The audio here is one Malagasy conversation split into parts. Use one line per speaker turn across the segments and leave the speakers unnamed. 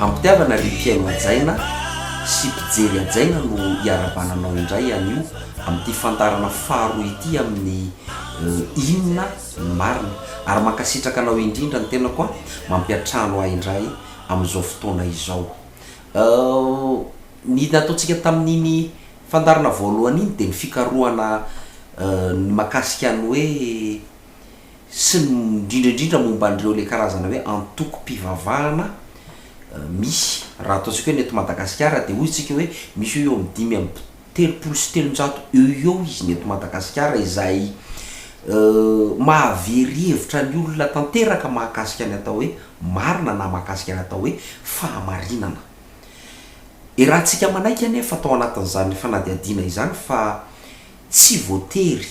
Ampitiavana ry mpihaino hajaina sy mpijery hajaina no hiarabana anao indray anio amin'ity fandaharana faharoa ity amin'ny Inona ny marina? Ary mankasitraka anao indrindra ny tenako an! Mampiantrano ahy indray amin'izao fotoana izao. Ny nataontsika tamin'iny fandaharana voalohany iny dia ny fikarohana ny makasika ny hoe, sy ny indrindra indrindra momba an'ireo ilay karazana hoe antokom-pivavahana misy. Raha ataontsika hoe ny eto Madagasikara dia hoy isika hoe misy eo ho eo amin'ny dimy amby telopolo sy telonjato eo ho eo izy ny eto Madagasikara izay mahavery hevitra ny olona tanteraka mahakasika ny atao hoe marina na mahakasika ny atao hoe fahamarinana. Iarahantsika manaiky anefa tao anatin'izany fanadihadiana izany fa tsy voatery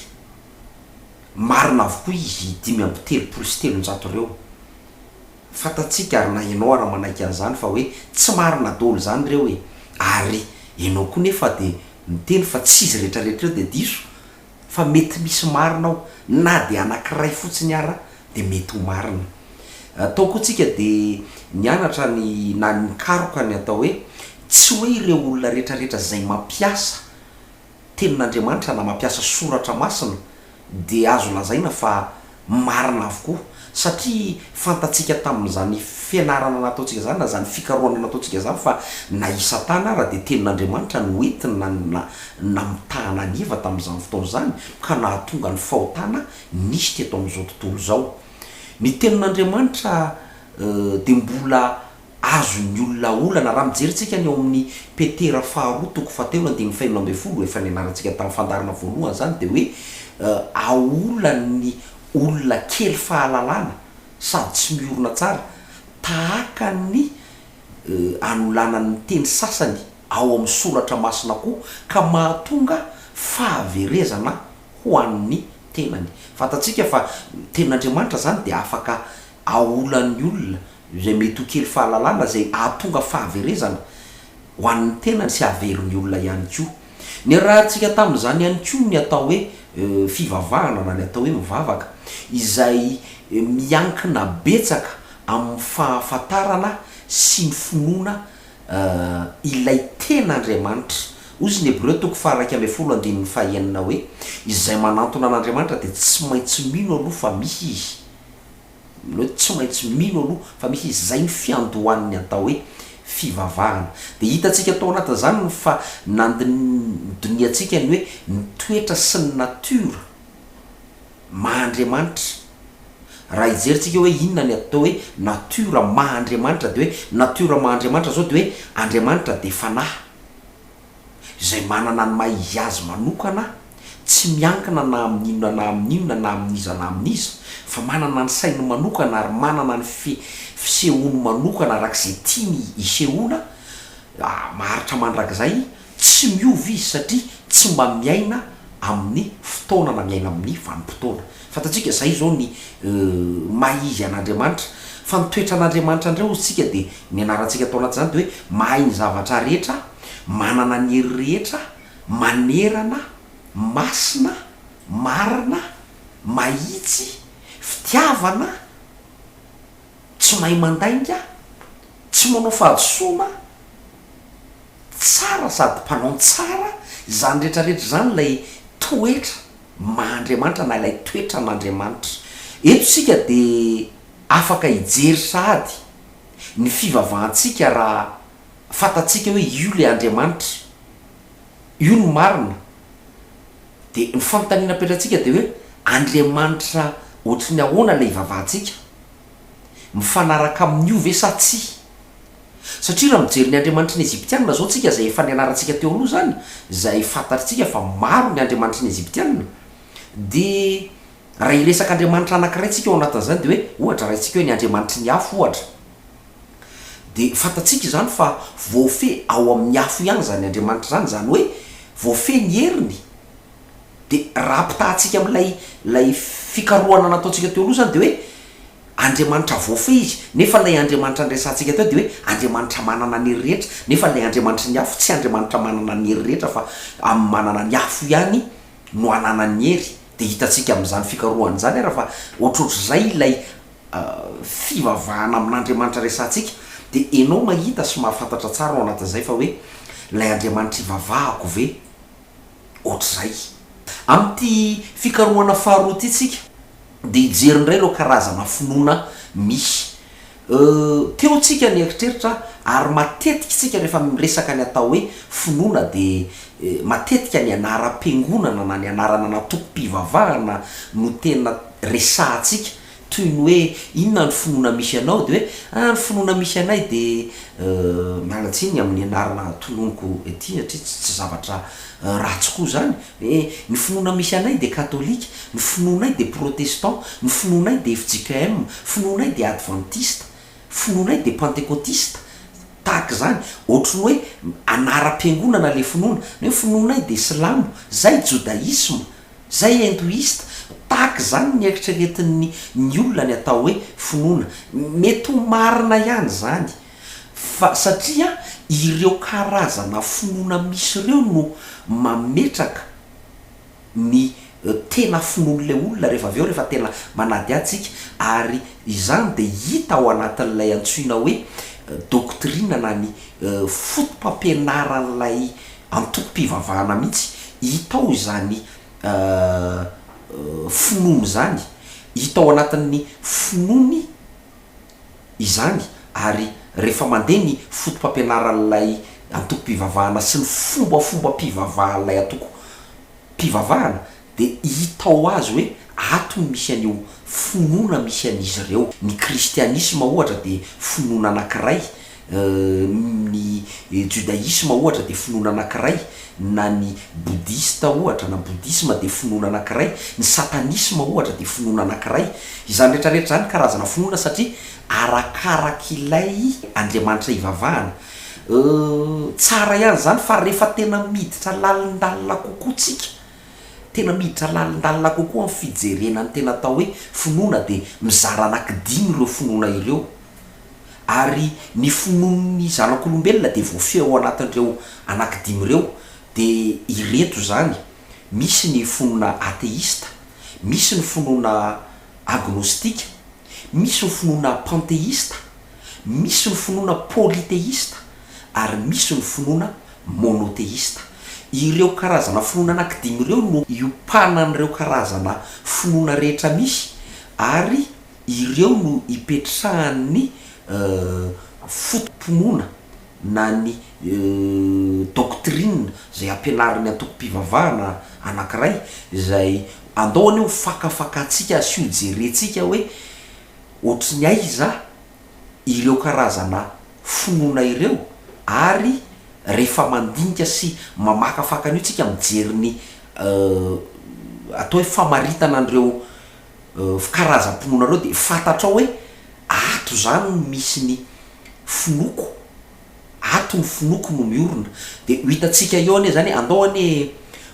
Marina avokoa izy dimy amby telopolo sy telonjato ireo. Fantatsika ary na ianao ary manaiky an'izany fa hoe tsy marina daholo izany ireo e! Ary ianao koa nefa dia miteny fa tsy izy rehetrarehetra ireo dia diso fa mety misy marina ao, na dia anankiray fotsiny ara dia mety ho marina. Tao koa tsika dia nianatra ny na nikaroka ny atao hoe tsy hoe ireo olona rehetrarehetra izay mampiasa Tenin'Andriamanitra na mampiasa soratra masina dia azo lazaina fa marina avokoa satria fantatsika tamin'izany fianarana nataontsika izany na izany fikarohana nataontsika izany fa na i Satana ara dia tenin'Andriamanitra no entina na namitahana an'i Eva tamin'izany fotoana izany ka nahatonga ny fahotana nisy teto amin'izao tontolo izao. Ny tenin'Andriamanitra dia mbola Azon'ny olona olana raha mijery tsika ny ao amin'ny Petera faharoa toko fahatelo andininy fahenina ambin'ny folo, efa nianarantsika tamin'ny fandaharana voalohany izany, dia hoe aolan'ny olona kely fahalalana sady tsy miorina tsara, tahaka ny anolanany ny teny sasany ao amin'ny soratra masina koa, ka mahatonga fahaverezana ho an'ny tenany. Fantatsika fa ny tenin'Andriamanitra izany dia afaka aolan'ny olona izay mety ho kely fahalalana izay hahatonga fahaverezana ho an'ny tenany sy hahavelo ny olona ihany koa. Niarahantsika tamin'izany ihany koa ny atao hoe fivavahana na ny atao hoe mivavaka izay miankina betsaka amin'ny fahafantarana sy ny finoana ilay tena Andriamanitra. Hoy izy ny Hebreo toko faha-iraika ambin'ny folo andininy faha-enina hoe, Izay manantona an'Andriamanitra dia tsy maintsy mino aloha fa misy Izy, Amin'izao dia tsy maintsy mino aloha fa misy izay ny fiandohan'ny atao hoe fivavahana. Dia hitantsika tao anatin'izany ny fa nandinihantsika ny hoe ny toetra sy ny natiora maha Andriamanitra. Raha hijerintsika hoe inona ny atao hoe natiora maha Andriamanitra dia hoe natiora maha Andriamanitra izao dia hoe Andriamanitra dia fanahy. izay manana ny maha izy azy manokana, tsy miankina na amin' inona na amin' inona na amin' iza na amin' iza, fa manana ny sainy manokana ary manana ny fi fisehoany manokana araka izay tiany isehoana, a maharitra mandrakizay, tsy miova izy satria tsy mba miaina amin' ny fotoana na miaina amin' ny vanim-potoana. Fantatsika izay izao ny maha izy an'Andriamanitra, fa ny toetran'Andriamanitra indray hozy tsika dia ny anarantsika tao anatin'izany dia hoe mahay ny zavatra rehetra, manana ny hery rehetra, manerana, masina, marina, mahitsy, fitiavana, tsy mahay mandainga, tsy manao fahadisoana, tsara sady mpanao ny tsara, izany rehetra rehetra izany ilay toetra. maha-Andriamanitra na ilay toetran'Andriamanitra. Eto isika dia afaka hijery sahady ny fivavahantsika raha fantatsika hoe io ilay Andriamanitra io no marina. Dia ny fanontaniana apetratsika dia hoe Andriamanitra ohatry ny ahoana ilay ivavahantsika? Mifanaraka amin'io ve sa tsia? Satria raha mijery ny andriamanitry ny Egyptiana izao tsika izay efa nianarantsika teo aloha izany, izay fantatritsika fa maro ny andriamanitry ny Egyptiana, dia raha hiresaka andriamanitra anankiray tsika ao anatin'izany dia hoe ohatra raisika hoe ny andriamanitry ny afo ohatra, dia fantatsika izany fa voafehy ao amin'ny afo ihany izany andriamanitra izany, izany hoe voafehy ny heriny, dia raha ampitahantsika amin'ilay ilay fikarohana nataontsika teo aloha izany dia hoe, Andriamanitra voafehy izy, nefa ilay Andriamanitra niresahantsika teo dia hoe Andriamanitra manana ny hery rehetra, nefa ilay Andriamanitry ny afo tsy Andriamanitra manana ny hery rehetra fa amin'ny manana ny afo ihany no ananany ny hery, dia hitantsika amin'izany fikarohana izany ary fa ohatrohatr'izay ilay fivavahana amin'Andriamanitra resahantsika, dia enao mahita sy mahafantatra tsara ao anatin'izay fa hoe ilay Andriamanitra ivavahako ve Ohatr'izay. Amin'ity fikarohana faharoa ity tsika dia hijery indray ireo karazana finoana misy. Teo tsika ny eritreritra ary matetika tsika rehefa miresaka ny atao hoe finoana dia matetika ny anaram-piangonana na ny anarana an'antoko-pivavahana no tena resahantsika Toy ny hoe, inona ny finoana misy anao? Dia hoe, ah, ny finoana misy anay dia, euh, miala tsiny amin'ny anarana tononiko ety satria tsy, tsy zavatra ratsy koa izany. Hoe, ny finoana misy anay dia katolika, ny finoanay dia protestant, ny finoanay dia fjkm, finoanay dia advantista, finoanay dia pantekotista, tahaka izany. Ohatry ny hoe anaram-piangonana ilay finoana. Ny hoe finoanay dia silamo, izay, jodaisma. Izay hindoista, tahaka izany ny eritreretin'ny ny olona ny atao hoe finoana. Mety ho marina ihany izany, fa satria ireo karazana finoana misy ireo no mametraka ny tena finoan'ilay olona rehefa avy eo rehefa tena manadihady isika, ary izany dia hita ao anatin'ilay antsoina hoe doctrine na ny foto-pampianaran'ilay antokom-pivavahana mihitsy hita ao izany finoana izany, hita ao anatin'ny finoany izany ary rehefa mandeha ny foto-pampianaran'ilay antokom-pivavahana sy ny fombafombam-pivavahan'ilay antokom-pivavahana dia hita ho azy hoe ato no misy an'io finoana misy an'izy ireo. Ny kristianisma, ohatra, dia finoana anankiray, ny jodaisma, ohatra, dia finoana anankiray, na ny bodista, ohatra, na bodisma dia finoana anankiray, ny satanisma, ohatra, dia finoana anankiray. Izany rehetra rehetra izany karazana finoana satria arakaraka ilay Andriamanitra ivavahana. Tsara ihany izany fa rehefa tena miditra lalindalina kokoa tsika, Tena miditra lalindalina kokoa amin'ny fijerena ny tena atao hoe finoana dia mizara anankidimy ireo finoana ireo. Ary ny finoan'ny zanak'olombelona dia voafehy ao anatin'ireo anankidimy ireo, dia ireto izany, misy ny finoana ateista, misy ny finoana agnostika, Misy ny finoana panteista, misy ny finoana pôliteista ary misy ny finoana mônôteista. Ireo karazana finoana anankidimy ireo no iompanan'ireo karazana finoana rehetra misy ary ireo no ipetrahan'ny foto-pinoana na ny doctrine izay ampianarin'ny antokom-pivavahana anankiray izay andao anie ho fakafakantsika sy ho jerentsika hoe ohatry ny aiza ireo karazana finoana ireo ary rehefa mandinika sy mamakafaka an'io tsika mijery ny atao hoe famaritana an'ireo fikarazam-pinoanareo dia fantatrao hoe ato izany no misy ny finoako, ato ny finoako no miorina. Dia ho hitantsika eo anie izany, andao anie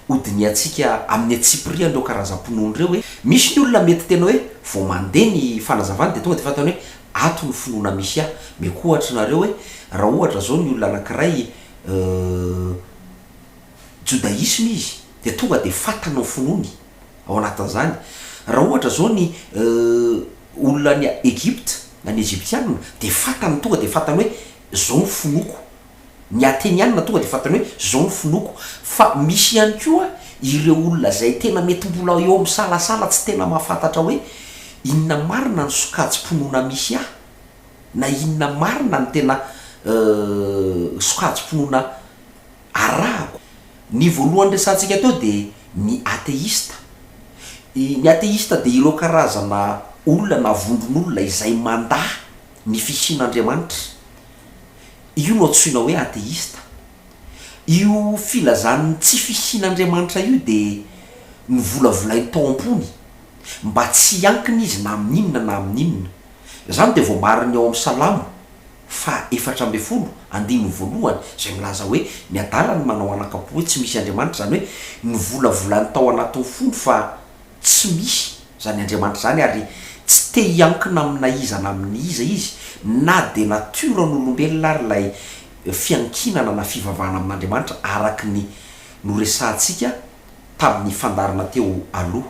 hodinihantsika amin'ny antsipiriany ireo karazam-pinoana ireo hoe, misy ny olona mety tena hoe vao mandeha ny fanazavany dia tonga dia fantany hoe ato ny finoana misy ahy. Omeko ohatra anareo hoe raha ohatra izao ny olona anankiray jodaisma izy dia tonga dia fantany ny finoany. ao anatin'izany, raha ohatra izao ny olona any Egypta na ny Egyptiana dia fantany tonga dia fantany hoe izao ny finoako, ny Ateniana tonga dia fantany hoe izao ny finoako, fa misy ihany koa ireo olona izay tena mety mbola eo amin'ny salasala tsy tena mahafantatra hoe inona marina ny sokajim-pinoana misy ahy na inona marina ny tena sokajim-pinoana Arahako. Ny voalohany resahantsika teo dia ny ateista. Ny ateista dia ireo karazana olona na vondron'olona izay mandà ny fisian'Andriamanitra. Io no antsoina hoe ateista. Io filazan'ny tsy fisian'Andriamanitra io dia novolavolainy tao am-pony mba tsy hiankina izy na amin'inona na amin'inona. Izany dia voamariny ao amin'ny Salamo faha efatra ambin'ny folo, andininy voalohany, izay milaza hoe, Ny adala no manao anakam-po hoe tsy misy Andriamanitra, izany hoe nivolavolany tao anatin'ny fony fa tsy misy izany Andriamanitra izany ary tsy te hiankina amina iza na amin'ny iza izy na dia natioran'olombelona ary ilay fiankinana na fivavahana amin'Andriamanitra araka ny noresahantsika tamin'ny fandaharana teo aloha.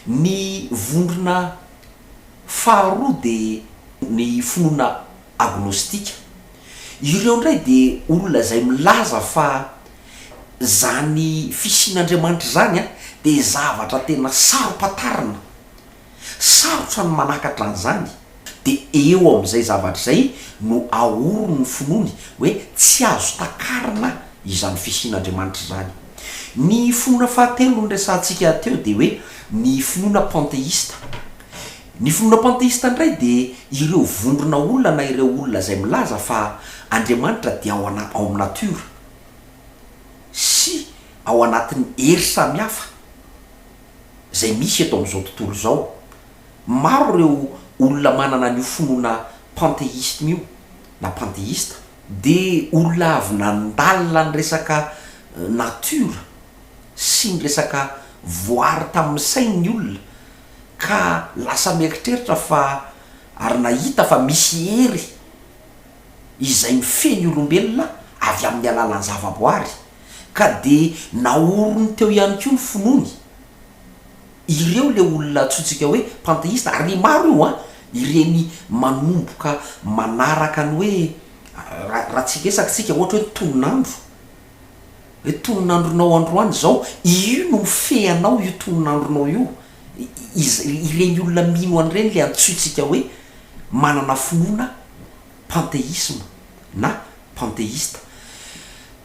Ny vondrona Faharoa dia ny finoana agnostika. Ireo indray dia olona izay milaza fa izany fisian'Andriamanitra izany dia zavatra tena saro-pantarina, sarotra ny manakatra an'izany, dia eo amin'izay zavatra izay no aorin'ny finoany hoe tsy azo takarina izany fisian'Andriamanitra izany. Ny finoana fahatelo noresahantsika teo dia hoe ny finoana panteista. Ny finoana panteista indray dia ireo vondrona olona na ireo olona izay milaza fa Andriamanitra dia ao ana- ao amin'ny natiora sy ao anatin'ny hery samihafa izay misy eto amin'izao tontolo izao. Maro ireo olona manana an'io finoana panteisme io na panteista. Dia olona avy nandalina ny resaka natiora sy ny resaka voary tamin'ny sainy ny olona ka lasa mieritreritra fa ary nahita fa misy hery izay mifehy ny olombelona avy amin'ny alalan'ny zavaboary ka dia naoriny teo ihany koa ny finoany. Ireo ilay olona antsointsika hoe panteista ary maro io an! ireny manomboka manaraka ny hoe raha tsy hiresaka isika ohatra hoe ny tonon'andro hoe tonon'andronao androany izao io no mifehy anao io tonon'andronao io ireny olona mino an'ireny ilay antsointsika hoe manana finoana panteisma na panteista,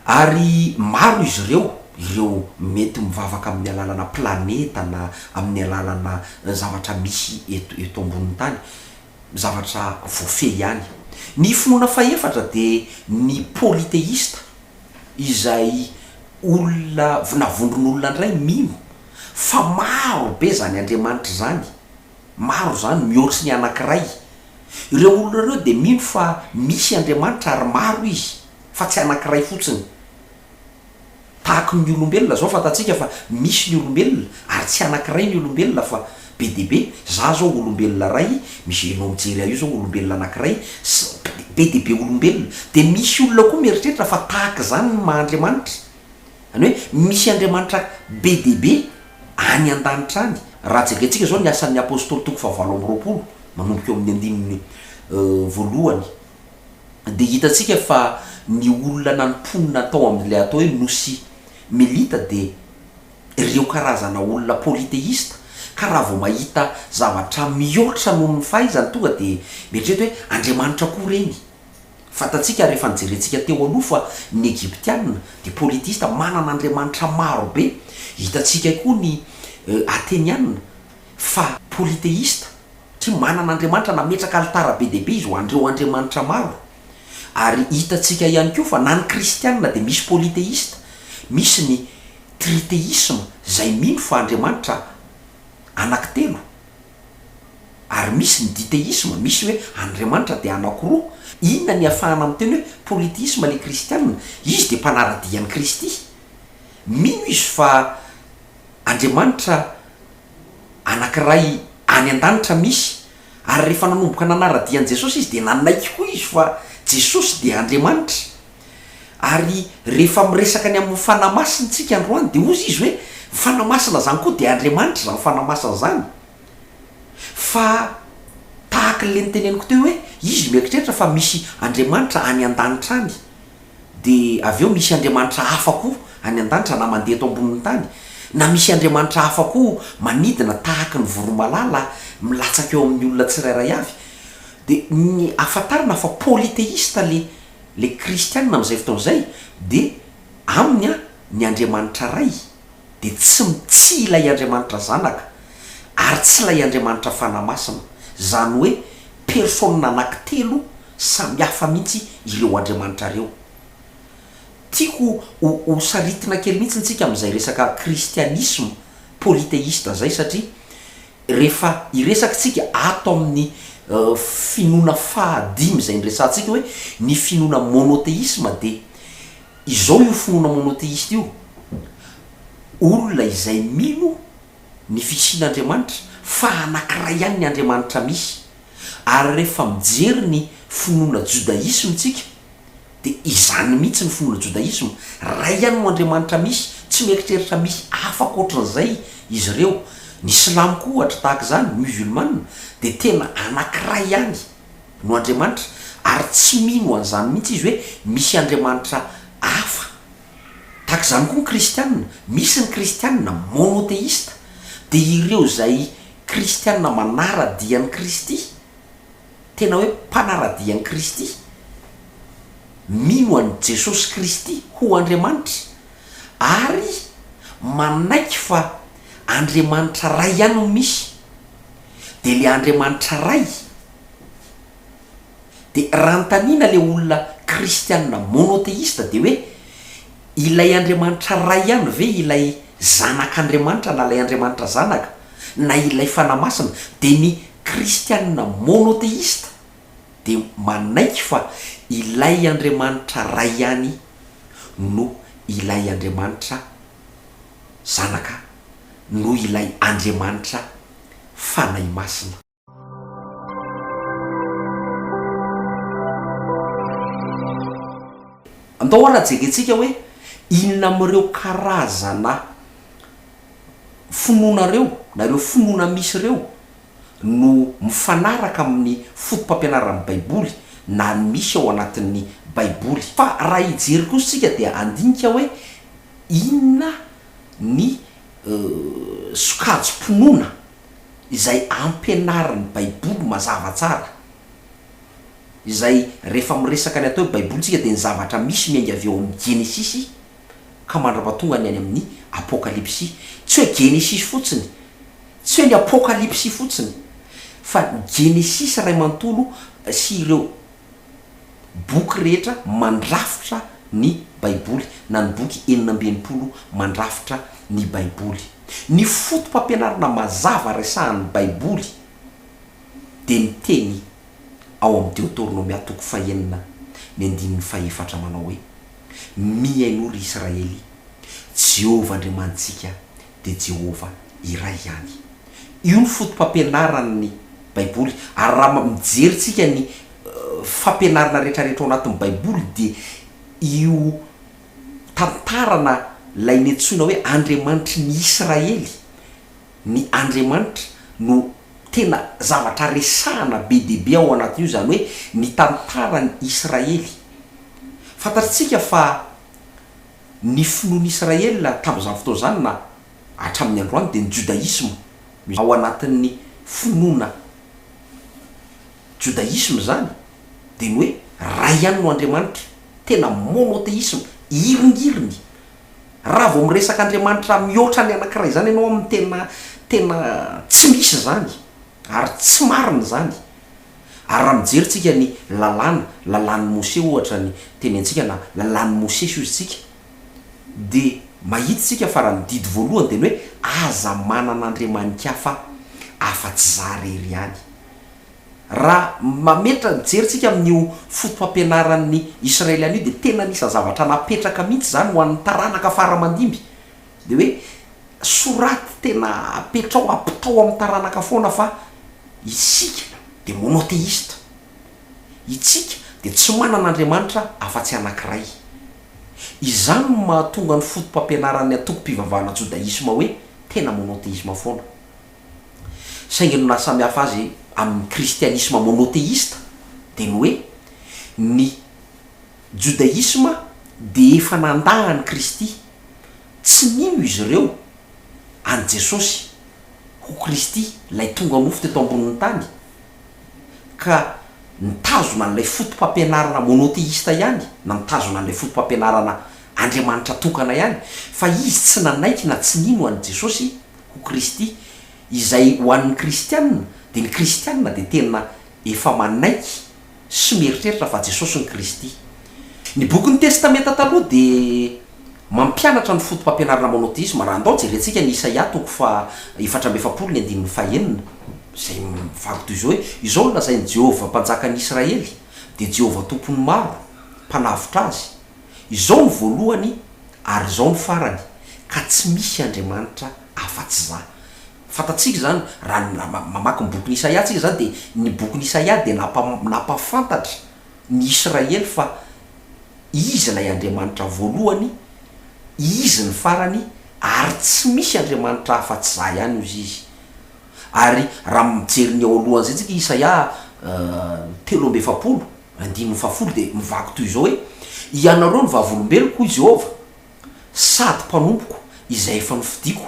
ary maro izy ireo ireo mety mivavaka amin'ny alalana planeta na amin'ny alalana zavatra misy eto eto ambonin'ny tany, zavatra voafehy ihany. Ny finoana fahefatra dia ny politeista, izay olona na vondron'olona indray mino fa maro be izany andriamanitra izany, Maro izany, mihoatry ny anankiray. Ireo olona ireo dia mino fa misy Andriamanitra ary maro izy, fa tsy anankiray fotsiny. Tahaky ny olombelona izao, fantatsika fa misy ny olombelona, ary tsy anankiray ny olombelona fa be dia be. Izaho izao olombelona iray, misy ianao mijery ahy io izao olombelona anankiray, sy be dia be olombelona. Dia misy olona koa mieritreritra fa tahaka izany ny maha Andriamanitra. Zany hoe misy Andriamanitra be dia be any an-danitra any. Raha jerentsika izao ny Asan'ny Apôstôly toko fahavalo amby roapolo, manomboka eo amin'ny andininy voalohany, dia hitantsika fa ny olona nanimponina tao amin'ilay atao hoe Nosy Melita dia ireo karazana olona pôliteista, ka raha vao mahita zavatra mihoatra noho ny fahaizany tonga dia mieritreritra hoe Andriamanitra koa ireny. Fantatsika ary efa nojerentsika teo aloha fa ny Egyptiana dia polytheista, manana andriamanitra maro be. Hitantsika koa ny Ateniana fa polytheista satria manana andriamanitra, nametraka alitara be dia be izy ho an'ireo andriamanitra maro. Ary hitantsika ihany koa fa na ny kristiana dia misy polytheista, misy ny tritheisme izay mino fa andriamanitra anankitelo. Ary misy ny ditheisme, misy hoe Andriamanitra dia anakoroa. Inona ny iafahana amin'ny teny hoe polytheisme ilay kristiana? Izy dia mpanara-dia an'i Kristy. Mino izy fa Andriamanitra anankiray any an-danitra misy. Ary rehefa nanomboka nanara-dia an'i Jesosy izy dia nanaiky koa izy fa Jesosy dia Andriamanitra. Ary rehefa miresaka ny amin'ny Fanahy Masina isika androany dia hozy izy hoe, ny Fanahy Masina izany koa dia Andriamanitra izany Fanahy Masina izany. Fa tahaka ilay noteneniko teo hoe, izy mieritreritra fa misy Andriamanitra any an-danitra any, dia avy eo misy Andriamanitra hafa koa any an-danitra na mandeha eto ambonin'ny tany, na misy Andriamanitra hafa koa manidina tahaka ny voromalala milatsaka eo amin'ny olona tsirairay avy. Dia ny ahafantarana fa polythéiste ilay Ilay kristiana amin'izay fotoana izay dia aminy ny Andriamanitra Ray dia tsy tsy ilay Andriamanitra Zanaka ary tsy ilay Andriamanitra Fanahy Masina, izany hoe persona anankitelo samy hafa mihitsy ireo Andriamanitra ireo. Tiako ho ho saritina kely mihitsy ntsika amin'izay resaka kristianisma polythéiste izay satria Rehefa hiresaka isika ato amin'ny finoana faha dimy izay niresahantsika hoe ny finoana monotheisme dia izao io finoana monotheiste io, olona izay mino ny fisian'Andriamanitra fa anankiray ihany ny Andriamanitra misy. Ary rehefa mijery ny finoana judaisme isika Dia izany mihitsy ny finoana jodaisma, Ray ihany no Andriamanitra misy, tsy mieritreritra misy hafa ankoatran'izay izy ireo. Ny silamo koa ohatra tahaka izany, ny musulmana, dia tena anankiray ihany no Andriamanitra, ary tsy mino an'izany mihitsy izy hoe misy Andriamanitra hafa. Tahaka izany koa ny kristiana, misy ny kristiana monotheista, dia ireo izay kristiana manara-dia an'i Kristy. tena hoe mpanara-dia an'i Kristy, mino an'i Jesosy Kristy ho Andriamanitra, ary manaiky fa Andriamanitra Ray ihany no misy, dia ilay Andriamanitra Ray, dia raha anontaniana ilay olona kristiana monotheiste dia hoe, Ilay Andriamanitra Ray ihany ve ilay Zanak'Andriamanitra na ilay Andriamanitra Zanaka na ilay Fanahy Masina? Dia ny Kristianina monotheista dia manaiky fa ilay Andriamanitra Ray ihany no ilay Andriamanitra Zanaka no ilay Andriamanitra Fanahy Masina. Andao ary ajerentsika hoe inona amin'ireo karazana finoana ireo na ireo finoana misy ireo no mifanaraka amin'ny fotopampianaran'ny Baiboly na ny misy ao anatin'ny Baiboly. Fa raha hijery kosa isika dia handinika hoe inona ny sokajim-pinoana izay ampianarin'ny Baiboly mazava tsara, izay rehefa miresaka ny atao hoe Baiboly isika dia ny zavatra misy miainga avy ao amin'ny Genesisy ka mandrapatonga ny any amin'ny Apokalypsy. Tsy hoe Genesisy fotsiny, tsy hoe ny Apokalypsy fotsiny, fa ny Genesisy iray manontolo sy ireo boky rehetra mandrafitra ny Baiboly, na ny boky enina amby enimpolo mandrafitra ny Baiboly. Ny foto-pampianarana mazava resahan'ny Baiboly dia ny teny ao amin'ny Deoteronomia toko fahenina ny andininy fahefatra manao hoe, Mihainoa ry Israely, Jehovah Andriamanitsika dia Jehovah iray ihany. Io ny fotopampianaran'ny Baiboly, ary raha mijery isika ny fampianarana rehetrarehetra ao anatin'ny Baiboly, dia io tantarana ilay niantsoina hoe Andriamanitry ny Israely, ny Andriamanitra, no tena zavatra resahana be dia be ao anatin'io, izany hoe ny tantaran'i Israely. Fantatr'isika fa Ny finoan'Israela tamin'izany fotoana izany na hatramin'ny androany dia ny jodaisma. Ao anatin'ny finoana jodaisma izany dia ny hoe Ray ihany no Andriamanitra, tena monotheism, iringiriny. Raha vao miresaka Andriamanitra mihoatra ny anankiray izany ianao aminy tena tena tsy misy izany ary tsy marina izany. Ary raha mijery tsika ny lalàna, lalàn'i Mose ohatra ny teny antsika na lalàn'i Mosesy hozy tsika dia mahita tsika fa raha ny didy voalohany dia ny hoe aza manana andriamanin-kafa afa-tsy za irery ihany. Raha mametra mijery tsika amin'io fotopampianaran'ny Israeliana io dia tena anisan'ny zavatra napetraka mihitsy izany ho an'ny taranaka fara-mandimby. Dia hoe soraty tena apetraho apitao amin'ny taranaka foana fa isika dia monotheista. Itsika dia tsy manana Andriamanitra afa-tsy anankiray. Izany no mahatonga ny fotopampianaran'ny antokom-pivavahana jodaisma hoe tena monotheisma foana. Saingy ny nahasamihafa azy amin'ny kristianisma monotheista dia ny hoe ny. Jodaisma dia efa nandà an'i Kristy. Tsy nino izy ireo an'i Jesosy ho Kristy, ilay tonga nofo teto ambonin'ny tany, ka nitazona an'ilay fotopampianarana mônôteista ihany, na mitazona an'ilay fotopampianarana Andriamanitra tokana ihany, fa izy tsy nanaiky na tsy nino an'i Jesosy ho Kristy, izay ho an'ny Kristiana, dia ny Kristiana dia tena efa manaiky, sy mieritreritra fa Jesosy no Kristy. Ny bokin'ny Testamenta Taloha dia mampianatra ny fotopampianarana mônôteisma. Raha handao, jerentsika ny Isaia toko faha efatra amby efapolo ny andininy faha enina, izay mivaky toy izao hoe, Izao no lazain'i Jehovah Mpanjakan'ny Israely, dia Jehovah Tompon'ny maro, Mpanavotra azy, Izao no voalohany ary izao no farany, ka tsy misy andriamanitra afa-tsy Izaho. Fantatsika izany raha mamaky ny bokin'i Isaia tsika izany dia ny bokin'i Isaia dia nampahafantatra ny Israely fa Izy ilay Andriamanitra voalohany, Izy ny farany ary tsy misy Andriamanitra hafa afa-tsy Zah ihany ozy Izy. Ary raha mijery ny eo alohan'izay tsika i Isaia telo amby efapolo, andininy fahafolo dia mivaky toy izao hoe, Ianareo ny vavolombeloko hoy Jehovah, sady mpanompoko izay efa nofidiko,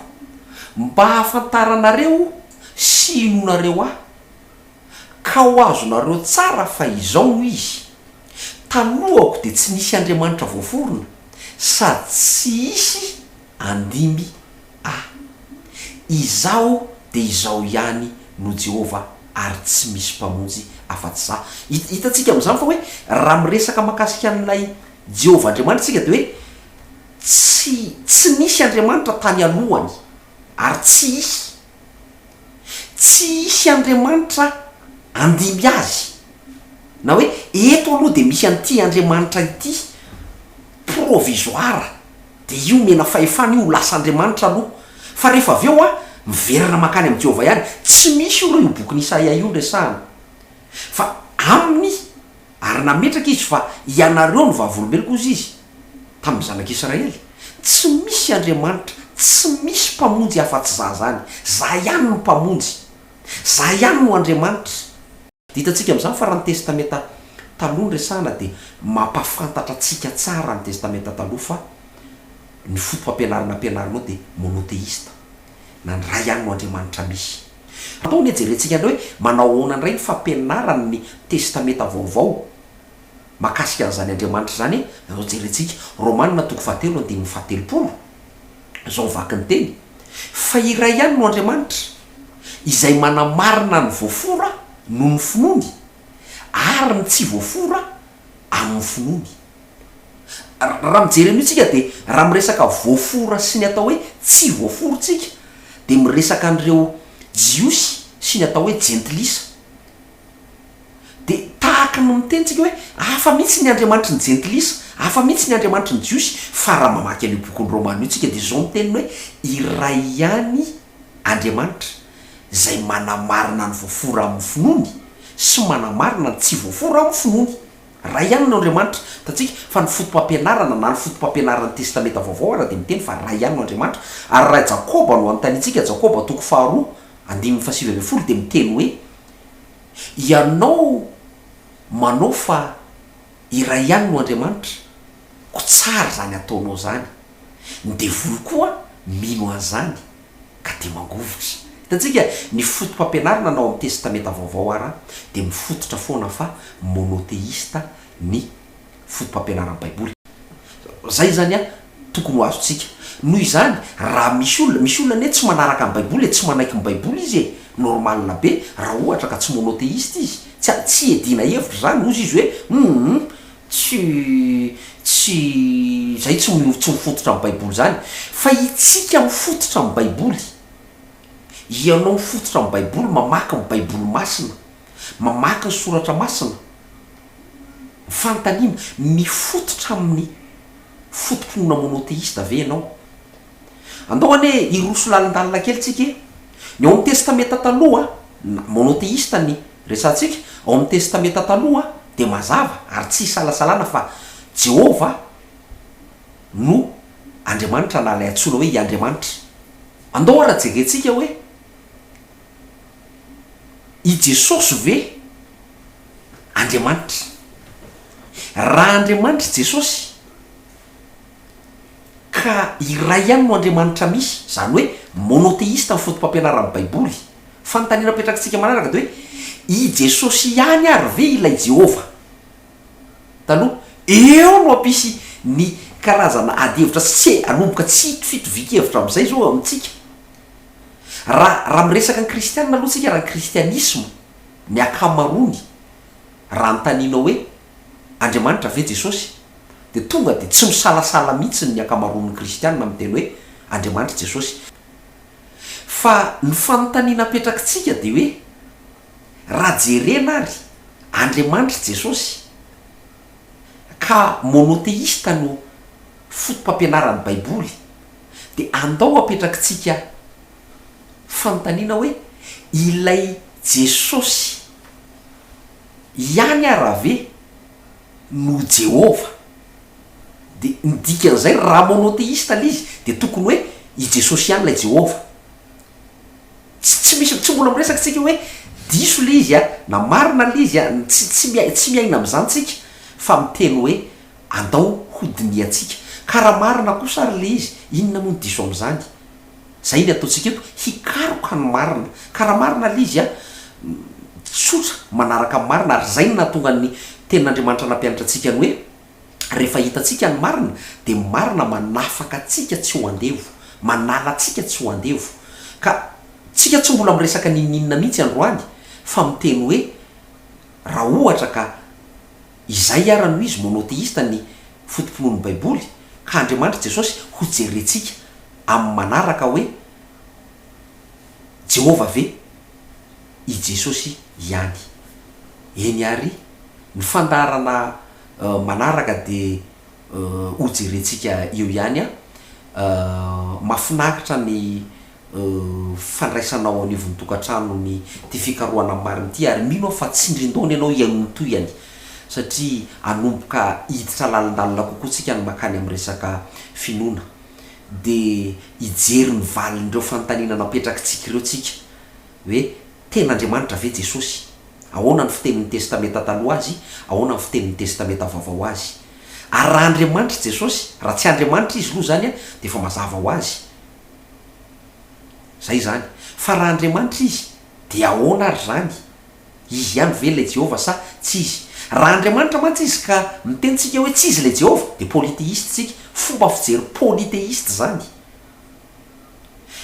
mba hahafantaranareo sy hinoanareo ahy, ka ho azonareo tsara fa izao no izy, Taloako dia tsy nisy Andriamanitra voaforona, sady tsy hisy handimby ahy. Izaho dia izaho ihany no Jehovah, ary tsy misy Mpamonjy afa-tsy izaho. Hitantsika amin'izany fa hoe raha miresaka mahakasika an'ilay Jehovah Andriamanitrtsika dia hoe tsy tsy nisy Andriamanitra tany alohany ary tsy hisy. Tsy hisy Andriamanitra handimby azy. Na hoe eto aloha dia misy an'ity Andriamanitra ity provisoire, dia io omena fahefana io ho lasa Andriamanitra aloha. Fa rehefa avy eo an, miverina mankany amin'i Jehovah ihany. Tsy misy io raha io bokin'i Isaia io no resahana. Fa aminy. Ary nametraka izy fa ianareo no vavolombeloko, hozy izy tamin'ny zanak'i Israely. Tsy misy Andriamanitra, tsy misy Mpamonjy afa-tsy Zah zany. Zah ihany no Mpamonjy. Zah ihany no Andriamanitra. Dia hitantsika amin'izany fa raha ny Testamenta Taloha no resahana dia mampahafantatra antsika tsara ny Testamenta Taloha fa ny fomba fampianarana ampianarinao dia monotheista. na ny Ray ihany no Andriamanitra misy. Andao anie jerentsika indray hoe manao ahoana indray ny fampianaran' ny Testamenta Vaovao mahakasika an'izany Andriamanitra izany e! Andao jerentsika Romana toko fahatelo andininy fahatelopolo, izao ny vaky ny teny, Fa iray ihany no Andriamanitra, izay manamarina ny voafora noho ny finoany, ary ny tsy voafora amin' ny finoany. Raha mijery an'io tsika dia raha miresaka voafora sy ny atao hoe tsy voafora tsika dia miresaka an'ireo jiosy sy ny atao hoe jentilisa. Dia tahaka ny miteny tsika hoe hafa mihitsy ny Andriamanitry ny jentilisa, hafa mihitsy ny Andriamanitry ny jiosy fa raha mamaky an'io bokin'ny Romana io tsika dia izao ny teniny hoe iray ihany Andriamanitra izay manamarina ny voafora amin'ny finoany sy manamarina ny tsy voafora amin'ny finoany. Iray ihany no Andriamanitra, hitantsika fa ny fotopampianarana na ny fotopampianaran'ny Testamenta Vaovao ara dia miteny fa iray ihany no Andriamanitra, ary raha i Jakoba no anontaniantsika, Jakoba toko faharoa, andininy fahasivy ambin'ny folo dia miteny hoe, Ianao manao fa iray ihany no Andriamanitra, koa tsara izany ataonao izany, ny devoly koa mino an'izany. ka dia mangovitra. Hitantsika, ny fotopampianarana anao amin'ny Testamenta Vaovao ara dia mifototra foana fa monotheista ny fotopampianaran'ny Baiboly. Izay izany an, tokony ho azontsika. Noho izany, raha misy olona, misy olona anie tsy manaraka ny Baiboly e, tsy manaiky ny Baiboly izy e, normal be raha ohatra ka tsy monotheista izy, tsy, tsy iadiana hevitra izany, hozy izy hoe, humm, Tsy, tsy, izay tsy, tsy mifototra amin'ny Baiboly izany. Fa itsika mifototra amin'ny Baiboly. Ianao mifototra amin'ny Baiboly, mamaky ny Baiboly masina, mamaky ny soratra masina, fanontaniana, mifototra amin'ny fototronona monotheiste ve ianao? Andao anie hiroso lalindalina kely tsika e! Ny ao amin'ny Testamenta Taloha, na Monotheista ny resahantsika, ao amin'ny Testamenta Taloha dia mazava ary tsy isalasalana fa Jehovah no Andriamanitra na ilay antsoina hoe i Andriamanitra. Andao ary jerentsika hoe i Jesosy ve Andriamanitra? Raha Andriamanitra i Jesosy, Ka iray ihany no Andriamanitra misy, izany hoe monotheista ny fotopampianaran'ny Baiboly. Fanontaniana apetrakitsika manaraka dia hoe, I Jesosy ihany àry ve ilay Jehovah taloha? Eo no hampisy ny karazana adihevitra tsy tsy hanomboka tsy hito fitovian-kevitra amin'izay izao eo amintsika. Raha raha miresaka ny Kristianina aloha isika raha ny Kristianisma ny ankamaroany raha anontaninao hoe, Andriamanitra ve Jesosy? Dia tonga dia tsy misalasala mihitsy ny ankamaroan'ny kristiana miteny hoe Andriamanitra i Jesosy. Fa ny fanontaniana apetrakitsika dia hoe, raha jerena ary Andriamanitra i Jesosy, ka monotheista no fotopampianaran'ny baiboly, dia andao apetrakitsika fanontaniana hoe, ilay Jesosy, Ihany ara ve no Jehovah? Dia ny dikan'izay, raha monotheiste ilay izy, dia tokony hoe i Jesosy ihany ilay Jehovah. Tsy, tsy misy, tsy mbola miresaka tsika hoe diso ilay izy an, na marina ilay izy an, tsy, tsy miai, tsy miaina amin'izany tsika, fa miteny hoe andao hodinihantsika. Ka raha marina kosa ary ilay izy, inona moa ny diso amin'izany? Izay ny ataontsika eto, hikaroka ny marina. Ka raha marina ilay izy, tsotra, manaraka ny marina. Ary izay no nahatonga ny Tenin'Andriamanitra nampianatra antsika ny hoe, rehefa hitantsika ny marina, dia ny marina manafaka antsika tsy ho andevo, manala antsika tsy ho andevo. Ka tsika tsy mbola miresaka n'inon'inona mihitsy androany, fa miteny hoe, raha ohatra ka. Izay ara noho izy monotheista ny foto-pinoan'ny baiboly ka Andriamanitra Jesosy hojerentsika amin'ny manaraka hoe Jehovah ve i Jesosy ihany? Eny àry, ny fandaharana manaraka dia hojerentsika eo ihany an! Mahafinaritra ny fandraisana ao anivon'ny tokantrano ny ity fikarohana marina ity ary mino aho fa tsindrin-daona ianao hihainoan-tohihany satria hanomboka hiditra lalindalina kokoa tsika ny makany amin'ny resaka finoana dia hijery ny valin'ireo fanontaniana napetrakitsika ireo tsika hoe tena Andriamanitra ve Jesosy? Ahoana ny fitenin'ny Testamenta Taloha azy? Ahoana ny fitenin'ny Testamenta Vaovao azy? Ary raha Andriamanitra i Jesosy, raha tsy Andriamanitra izy loha izany dia efa mazava ho azy Izay izany. Fa raha Andriamanitra izy, dia ahoana ary izany? Izy ihany ve ilay Jehovah sa tsy izy? Raha Andriamanitra mantsy izy ka miteny tsika hoe tsy izy ilay Jehovah, dia polytheiste isika, fomba fijery polytheiste izany.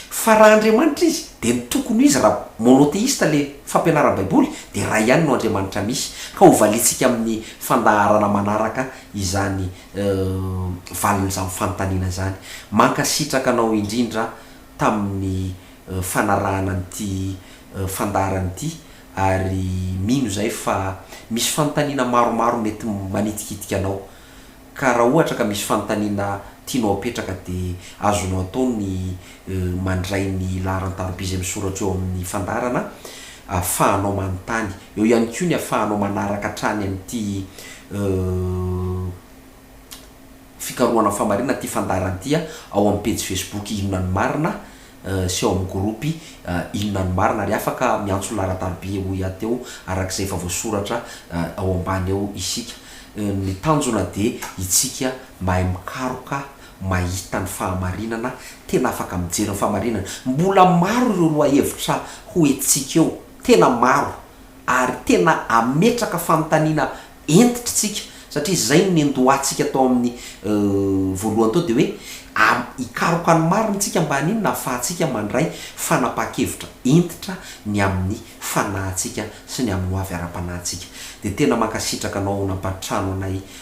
Fa raha Andriamanitra izy, dia ny tokony ho izy raha monotheiste ilay fampianaran'ny Baiboly, dia iray ihany no Andriamanitra misy. Ka hovaliantsika amin'ny fandaharana manaraka izany Uhm valin'izany fanontaniana izany. Mankasitraka anao indrindra tamin'ny fanarahana an'ity fandaharana ity ary mino izay fa misy fanontaniana maromaro mety manitikitika anao ka raha ohatra ka misy fanontaniana tianao apetraka dia azonao atao ny mandray ny laharan-tarobizy amin'ny soratra eo amin'ny fandaharana ahafahanao manontany. Eo ihany koa ny ahafahanao manaraka hatrany amin'ity fikarohana famarinana ity fandaharana ity ao amin'ny pejy Facebook Inona no Marina sy ao amin'ny gropy Inona no Marina ary afaka miantso ny laharan-taroby hoy aho teo araka izay efa voasoratra ao ambany ao isika. Ny tanjona dia isika mahay mikaroka mahita ny fahamarinana, tena afaka mijery ny fahamarinana. Mbola maro ireo lohahevitra ho entintsika eo, tena maro, ary tena hametraka fanontaniana hentitra isika, satria izay no niandohantsika tao amin'ny voalohany tao dia hoe hikaroka ny marina isika mba haninona hahafahantsika mandray fanapahan-kevitra hentitra ny amin'ny fanahintsika sy ny amin'ny hoavy ara-panahintsika. Dia tena mankasitraka anao nampatrano anay